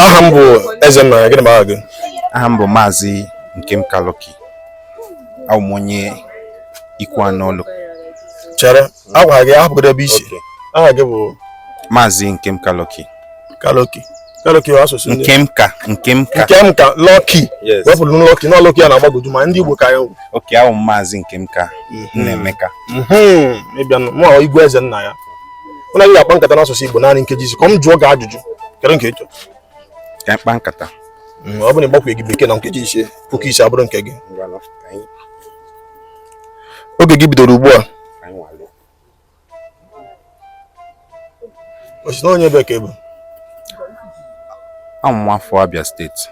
aha m bụ Ezennaya gịnị bụ aha gị aha m bụ maazị Nkemka Lucky abụ m onye Ikwuanọ ọlụ chere a gwara gị ahapụgodo ebe i si aha gị bụ maazị Nkem Kaloki Kaloki Kaloki asụsụ ndị Nkemka Nkemka Nkemka Lucky Yes. wepụrụ m Lucky na Lucky a na-agbagoju ma ndị Igbo ka ya nwụ okay abụ m maazị Nkemka Nnaemeka ịbịanụ mụ igwe Ezennaya mụ na gị ga-akpa nkata n'asụsụ Igbo naanị nkeji ise ka m jụọ gị ajụjụ kedu nke ị chọrọ ka m kpaa nkata mm, ọ bụ na ị gbakwaghị bekee na nkeji ise puku ise abụrụ nke gị oge gị bidoro ugbu a ọ sị na onye ebee ka ị bụ awụ m nwafọ Abia steeti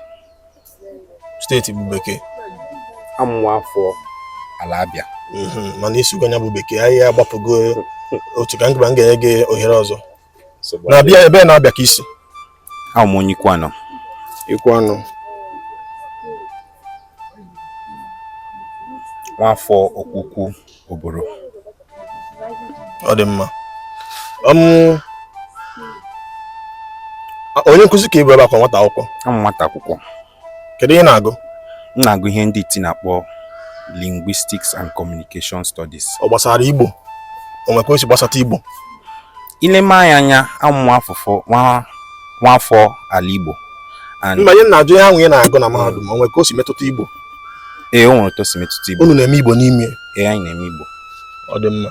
steeti bụ bekee awụ m nwa afọ ala Abịa mhm, mana ị sụgo nya bụ bekee anyị agbapụgo otu ka nkịba m ga-enye gị ohere ọzọ na Abịa ebee na Abịa ka i si awụ m onye Ikwuanọ Ikwuanọ nwafọ Okweukwu Oboro ọ dị mma onye nkụzi ka ị bụ ebe a ka nwata akwụkwọ awụ m nwata akwụkwọ kedu ihe ị na-agụ m na-agụ ihe ndị iti na-akpọ linguistics and communication studies ọ gbasara igbo o nwekwa o si gbasata igbo i lee m anya anya awụ m nwa afọ ala igbo mba ihe m na-ajụ ihe ahụ ị na-agụ na mahadum o nwekwa o si metụta igbo ee o nwere otu o si metụta igbo unu na-eme igbo n'ime ee anyị na-eme igbo ọ dị mma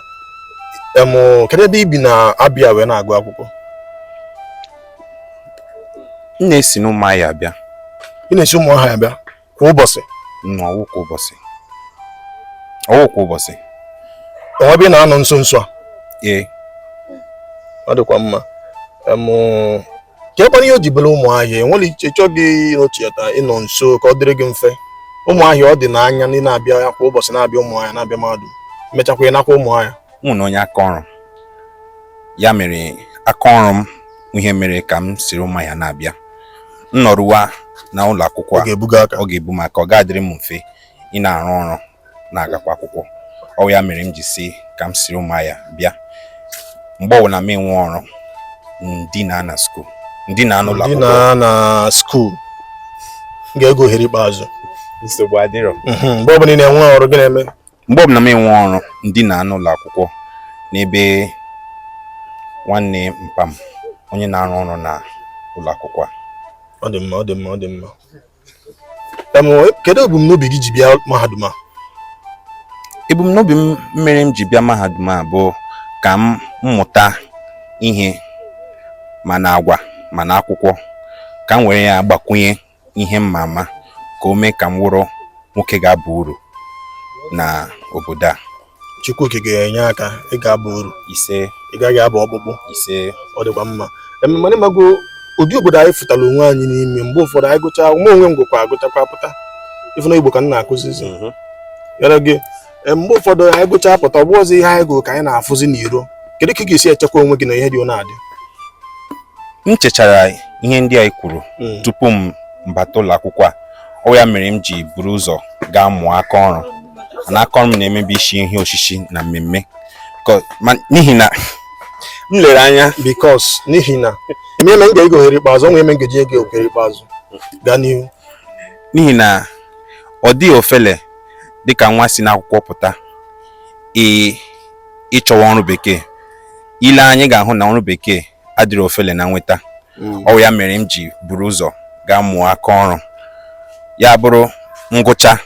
em kedu ebe i bi na Abịa wee na-agụ akwụkwọ m na-esi n'ụmụahịa abịa ị na-esi ụmụahịa abịa kwa ụbọchị nọ ọ wụ kwa ụbọchị ọ wụ kwa ụbọchị o nwe ebe ị na-anọ nso nso a ee ọ dịkwa mma em kekwanụ ihe o ji bụrụ ụmụahịa o nwere ihe ị chọghị ịnọchiata ịnọ nso ka ọ dịrị gị mfe ụmụahịa ọ dị n'anya na ị na-abịa ya kwa ụbọchị na-abịa ụmụahịa na-abịa mahadum mechakwa ị nakwa ụmụahịa m wụ onye aka ọrụ ya mere aka ọrụ m wụ ihe mere ka m siri ụmụahịa na-abịa m nọrụwa na ụlọ akwụkwọ ọ a ga-ebuga aka ọ ga-ebu m aka ọ ga-adịrị m mfe ị na-arụ ọrụ na-agakwa akwụkwọ ọ wụ ya mere m ji si ka m siri ụmụahịa bịa mgbe ọbụla m enwe ọrụ m dina na skuul m dina n'ụlọ m dina na skuul ga-enye gị ohere ikpeazụ nsogbu adịrọ mhm, mgbe ọbụla ị na-enwe ọrụ gịnị na-eme mgbe ọbụla m enwe ọrụ m dina n'ụlọ akwụkwọ n'ebe nwanne mpa m onye na-arụ ọrụ na ụlọ akwụkwọ a ọ dị mma ọ dị mma ọ dị mma kedu ebumnobi gị ji bịa mahadum a ebumnobi m mere m ji bịa mahadum a bụ ka m mụta ihe ma na agwa ma na akwụkwọ ka m were ya gbakwunye ihe m ma ama ka o mee ka m wụrụ nwoke ga-aba uru na obodo a Chukwu okike ga-enye aka ị ga-aba uru ise ị gaghị aba ọkpụkpụ ise ọ dịkwa mma mana ịmago ụdị obodo anyị fụtara onwe anyị n'ime mgbe ụfọdụ anyị gụcha mụnwa onwe m gwekwa agụchakwa pụta ị fụ na igbo ka m na-akụzizi mhm. yara gị mgbe ụfọdụ anyị gụcha pụta ọ bụrọzị ihe anyị gụrụ ka anyị na-afụzi n'iro kedu ka ị ga-esi echekwa onwe gị na ihe dị ọ na-adị m chechara ihe ndị anyị kwuru hmm. tupu m bata ụlọ akwụkwọ a ọ wụ ya mere m ji buru ụzọ gaa mụọ aka ọrụ na aka ọrụ m na-eme bụ isi ihe osisi na mmemme n'ihi na m lere anya because n'ihi na eme m ga-ego ohere ikpeazụ ọnwa eme ngeji ego ohere ikpeazụ gaa n'ihu n'ihi na ọ dịghị ofele dịka nwa si n'akwụkwọ pụta ịchọwa ọrụ bekee ị lee anya ị ga-ahụ na ọrụ bekee adịghị ofele na nweta hmm. ọ wụ ya mere m ji buru ụzọ gaa mụọ aka ọrụ ya bụrụ m gụchaa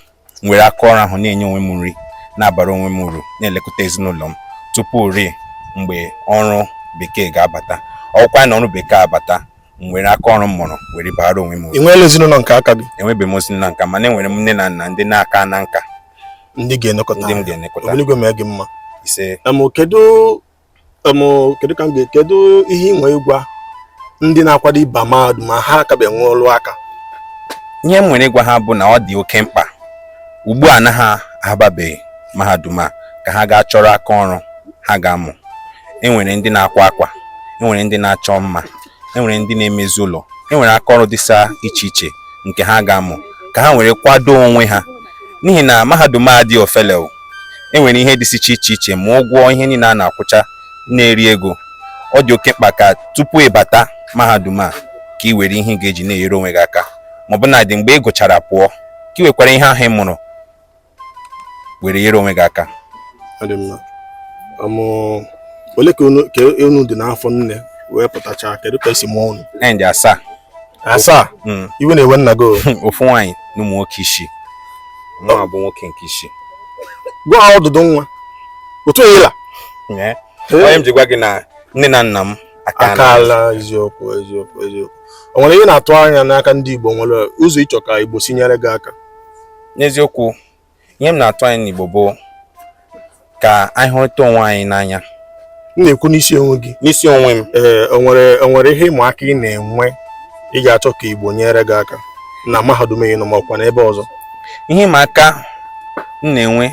m were aka ọrụ ahụ na-enye onwe m nri na-abara onwe m uru na-elekọta ezinụlọ m tupu rue mgbe ọrụ bekee ga-abata ọ wụkwa na ọrụ bekee abata m were aka ọrụ m mụrụ were bara onwe m uru. Ị nweela ezinụlọ nke aka gị? Enwebeghị m ezinụlọ nke aka m mana enwere m nne na nna ndị na-aka na nka ndị ga-elekọta ndị m ga-elekọta. Obinigwe mee gị mma. Ise. Kedu kedu ka m ga kedu ihe ị nwere ịgwa ndị na-akwado ịba mahadum ma ha akabe nwe ọrụ aka ihe m nwere ịgwa ha bụ na ọ dị oke mkpa ugbu a na ha ababeghị mahadum a ka ha gaa chọrọ aka ọrụ ha ga-amụ enwere ndị na-akwa akwa enwere ndị na-achọ mma enwere ndị na-emezi ụlọ enwere aka ọrụ dịsa iche iche nke ha ga-amụ ka ha were kwado onwe ha n'ihi na mahadum adịghị ofele e nwere ihe dịsị iche iche iche ma ụgwọ ihe niile a na-akwụcha na-eri ego ọ dị oke mkpa ka tupu ị bata mahadum a ka ị were ihe ị ga-eji na-enyere onwe gị aka ma ọ bụnadị mgbe ị gụchara pụọ ka ị wekwara ihe ahụ ị mụrụ were nyere onwe gị aka ole ka unu dị n'afọ nne wee pụtachaa kedu ka e si mụọ unu anyị dị asaa asaa hmm. iwe na-ewe nna gị ofu nwaanyị na ụmụ nwoke isii mụnwa bụ nwoke nke isii gwa ha ọdụdụ nwa otu enyela ọ ya m ji gwa gị na nne na nna m akaala eziokwu eziokwu eziokwu o nwere ihe ị na-atụ anya n'aka ndị Igbo nwere ụzọ ị chọ ka Igbo si nyere gị aka n'eziokwu ihe m na-atụ anya n'Igbo bụ ka anyị hụrịta onwe anyị n'anya m na-ekwu n'isi onwe gị n'isi onwe m ee o nwere o nwere ihe ịma aka ị na-enwe ị ga-achọ ka Igbo nyere gị aka na mahadum ị nọ ma ọkwa n'ebe ọzọ ihe ịma aka m na-enwe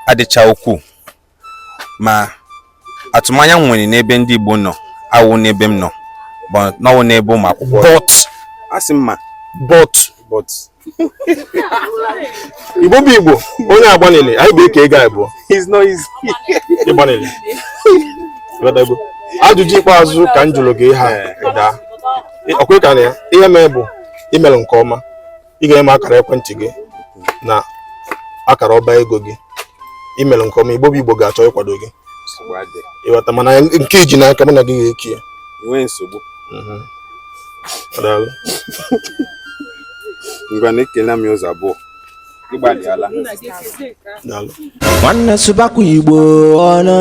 adịcha ukwuu ma atụmanya m nwere n'ebe ndị Igbo nọ awụ n'ebe m nọ but na ọ wụ n'ebe ụmụ akwụkwọ but asị m ma but but igbo bụ igbo onye agbanili anyị bụ eke ego abụọ it's not easy ịgbanili Ghọtago? ajụjụ ikpeazụ ka m jụrụ gị ha daa ọ kwa ị ka na ya ihe mee bụ i mere nke ọma ị ga-enye m akara ekwentị gị na akara ọba ego gị i mere nke ọma igbo bụ igbo ga-achọ ịkwado gị ị ghọta mana nke i ji n'aka mụ na gị ga-eke ya enweghị nsogbu mhm. ngwa na ekele m ụzọ abụọ nwanne sụbakwa igbo ọnụ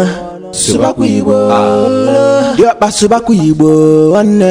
sụbakwa igbo ọnụ diọkpa sụbakwa igbo nwanne